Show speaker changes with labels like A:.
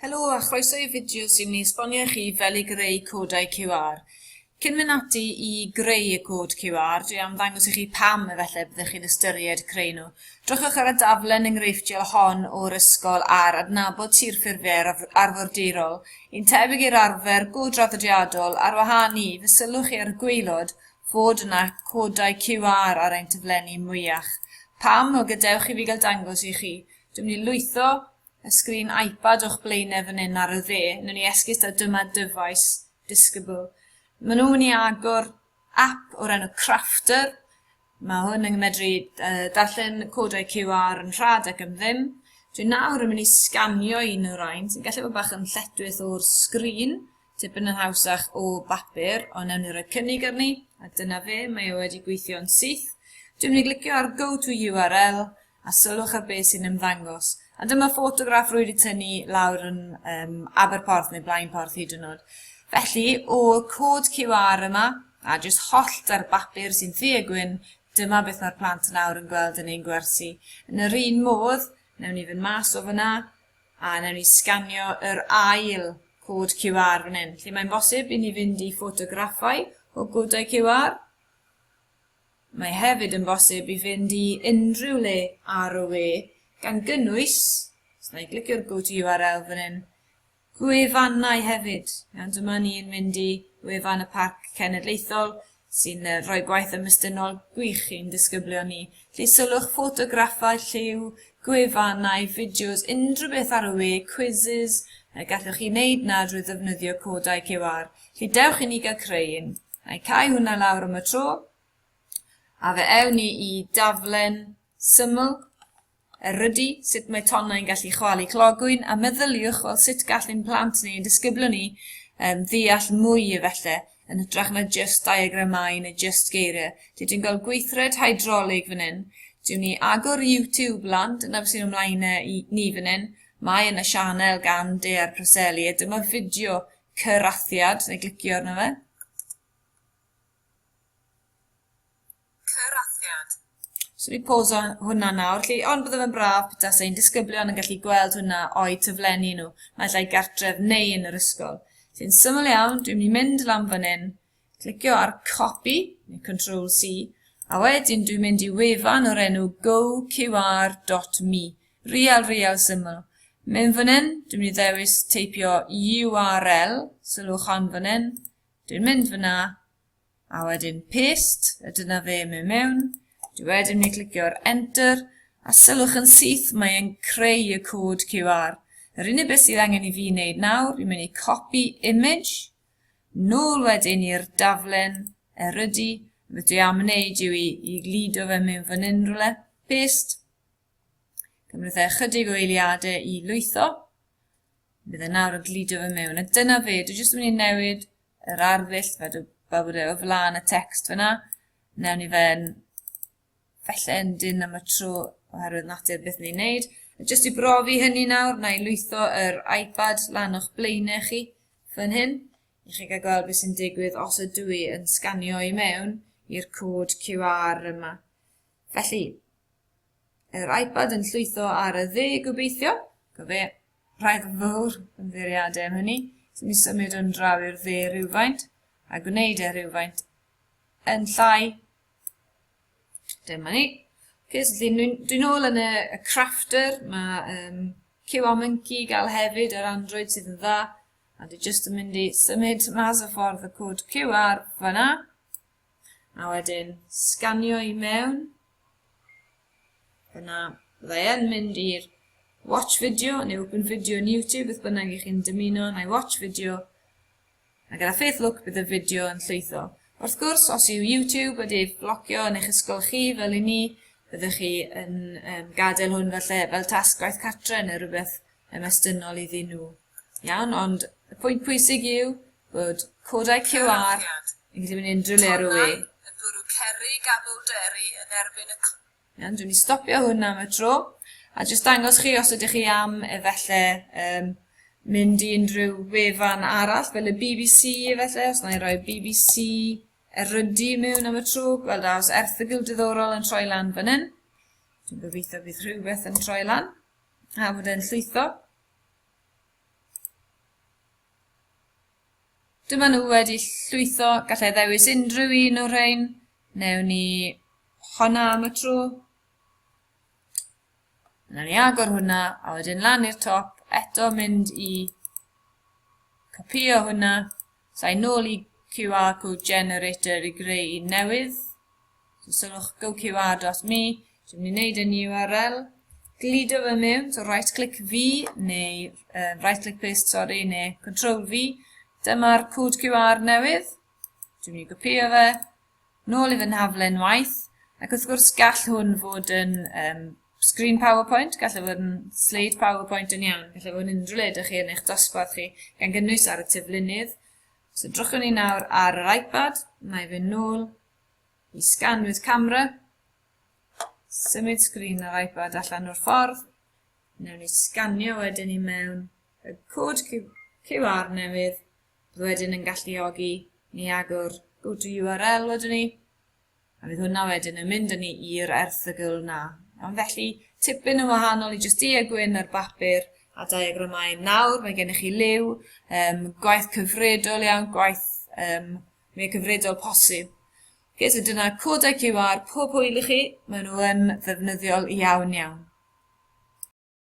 A: Helo a chroeso i'r fideo sy'n mynd i esbonio i chi fel i greu codau QR. Cyn mynd ati i greu y cod QR, dwi am ddangos i chi pam efallai byddwch chi'n ystyried creu nhw. Drychwch ar y daflen enghreifftiol hon o'r ysgol ar adnabod tir ffurfiau arfordirol. Yn tebyg i'r arfer go draddodiadol, ar wahân i, fe sylwch chi ar y gweilod, fod yna codau QR ar ein tyflenni mwyach. Pam? Wel gadewch i fi gael dangos i chi. Dwi'n mynd i lwytho y sgrin iPad o'ch blaenau fan hyn ar y dde, newn ni esgus da dyma dyfais disgybl. Maen nhw'n mynd i agor app o'r enw Crafter. Mae hwn yn medru uh, darllen codau QR yn rhad ac yn ddim. Dwi'n nawr yn mynd i sganio un o'r rhain sy'n gallu bod bach yn lletwith o'r sgrin, tipyn yn hawsach o bapur, ond newn ni roi cynnig arni, a dyna fe, mae o wedi gweithio'n syth. Dwi'n mynd i glicio ar Go to URL, a sylwch ar beth sy'n ymddangos. A dyma ffotograff rwy wedi tynnu lawr yn um, Aberporth neu Blaen Porth hyd yn oed. Felly, o'r cod QR yma, a jyst hollt ar y bapur sy'n ddu a gwyn, dyma beth mae'r plant yn awr yn gweld yn ein gwersi. Yn yr un modd, newn ni fynd mas o fyna, a newn ni sganio yr ail cod QR fan hyn. Felly mae'n bosib i ni fynd i ffotograffau o godau QR, Mae hefyd yn bosib i fynd i unrhyw le ar y we, gan gynnwys, os na i glicio'r go to URL fan hyn, gwefannau hefyd. Iawn, dyma ni'n mynd i wefan y Parc Cenedlaethol sy'n rhoi gwaith ymestynol gwych i'n disgyblion ni. Felly sylwch ffotograffau, lliw, gwefannau, fideos, unrhyw beth ar y we, quizzes, gallwch chi wneud na drwy ddefnyddio codau QR. Felly dewch i ni gael creu un. Na'i cau hwnna lawr am y tro. A fe ewn ni i daflen syml. Erydu, sut mae tonnau yn gallu chwalu clogwyn, a meddyliwch, wel sut gall ein plant neu ein disgyblion ni um, ddeall mwy efallai, yn hytrach na just diagramau neu just geiriau. Dwi dwi'n gweld gweithred hydrolig fan hyn. Dwi'n ni agor YouTube lan, dyna beth sy'n ymlaen e i ni fan hyn. Mae yna sianel gan Dear Proseli, a dyma fideo cyrathiad, neu glicio arno fe. Cyrathiad. So ni poso hwnna nawr, lle, ond bydde fe'n braf petas ein disgyblion yn gallu gweld hwnna o'i tyflenni nhw, naill ai gartref neu yn yr ysgol. Felly'n syml iawn, dwi'n mynd i mynd lan fan hyn, Clicio ar copy neu control C a wedyn dwi'n mynd i wefan o'r enw goqr.me. Real, real syml. Mewn fan hyn, dwi'n mynd i ddewis teipio URL, sylwch hon fan hyn. Dwi'n mynd fyna a wedyn paste, a dyna fe mewn mewn. Dwi wedyn mynd i clicio ar enter a sylwch yn syth mae'n creu y cod QR. Yr unig beth sydd angen i fi wneud nawr yw mynd i copy image Nôl wedyn i'r daflen er ydy, beth dwi am wneud yw i, i gludo fe mewn fan hyn rhywle, paste, cymryd e ychydig o eiliadau i lwytho, bydd e nawr yn gludo fe mewn, a dyna fe, dwi jyst yn mynd i newid yr arddull, fe dwi fel bod e o flaen y text fyna, newn ni fe'n Felly yn dyn am y tro oherwydd natur beth ni'n neud. Jyst i brofi hynny nawr, na i lwytho yr iPad lan o'ch blaenau chi, fan hyn, i chi gael gweld beth sy'n digwydd os ydw i yn sganio i mewn i'r cod QR yma. Felly, yr iPad yn llwytho ar y dde gobeithio, gofe, rhaid yn fawr yn ddeiriadau am hynny, sy'n ni symud o'n draw i'r dde rhywfaint, a gwneud e rhywfaint yn llai Dyma ni. Okay, so dwi'n dwi nôl yn y, y crafter, mae um, QR Monkey i gael hefyd ar Android sydd yn dda, a dwi jyst yn mynd i symud mas o ffordd y cod QR fyna, a wedyn sganio i mewn, fyna byddai yn mynd i'r watch video neu open video yn YouTube, beth bynnag i chi'n dymuno, na i watch video, A gyda Facebook bydd y fideo yn llwytho. Wrth gwrs, os yw YouTube wedi eich blocio yn eich ysgol chi, fel i ni, byddwch chi yn um, gadael hwn falle fel tasg gwaith cartre neu rhywbeth um, estynol iddyn nhw. Iawn, ond y pwynt pwysig yw bod codau QR yn gallu mynd unrhyw le ar y we. Yn bwrw cerrig a bowderi yn erbyn y Iawn, dwi'n mynd i stopio hwn am y tro. A jyst dangos chi os ydych chi am efallai um, mynd i unrhyw wefan arall, fel y BBC efallai, os na i roi BBC erydu mewn am y tro, gweld a os erthygl diddorol yn troi lan fan hyn. Dwi'n gobeithio bydd rhywbeth yn troi lan a bod e'n llwytho. Dyma nhw wedi llwytho, gallai ddewis unrhyw un o'r rhain. Newn ni honna am y tro. Newn ni agor hwnna, a wedyn lan i'r top, eto mynd i copio hwnna, sa'i nôl i QR code generator i greu un newydd. So sylwch go QR dot me, dwi'n mynd i wneud yn URL, gludo fe mewn, so right click V, neu uh, right click paste, sorry, neu control V. Dyma'r code QR newydd. Dwi'n mynd i gopio fe, nôl i fy nhaflen waith, ac wrth gwrs gall hwn fod yn um, screen PowerPoint, gall e fod yn sleid PowerPoint yn iawn, gall e fod yn unrhyw le ydych chi yn eich dosbarth chi, gan gynnwys ar y tyflunydd. So drwchwn ni nawr ar yr iPad, mae fe nôl, I sgan with camera. Symud sgrin yr iPad allan o'r ffordd. Newn ni sganio wedyn i mewn y cod QR newydd bydd wedyn yn galluogi ni agor go to URL wedyn ni a bydd hwnna wedyn yn mynd â ni i'r erthygl na. Ond felly, tipyn yn wahanol i jyst du a gwyn ar bapur a diagramau. Nawr mae gennych chi liw, um, gwaith cyfredol iawn, gwaith um, neu gyfredol posib. Ok, so dyna codau QR pob hwyl i chi, maen nhw yn ddefnyddiol iawn iawn.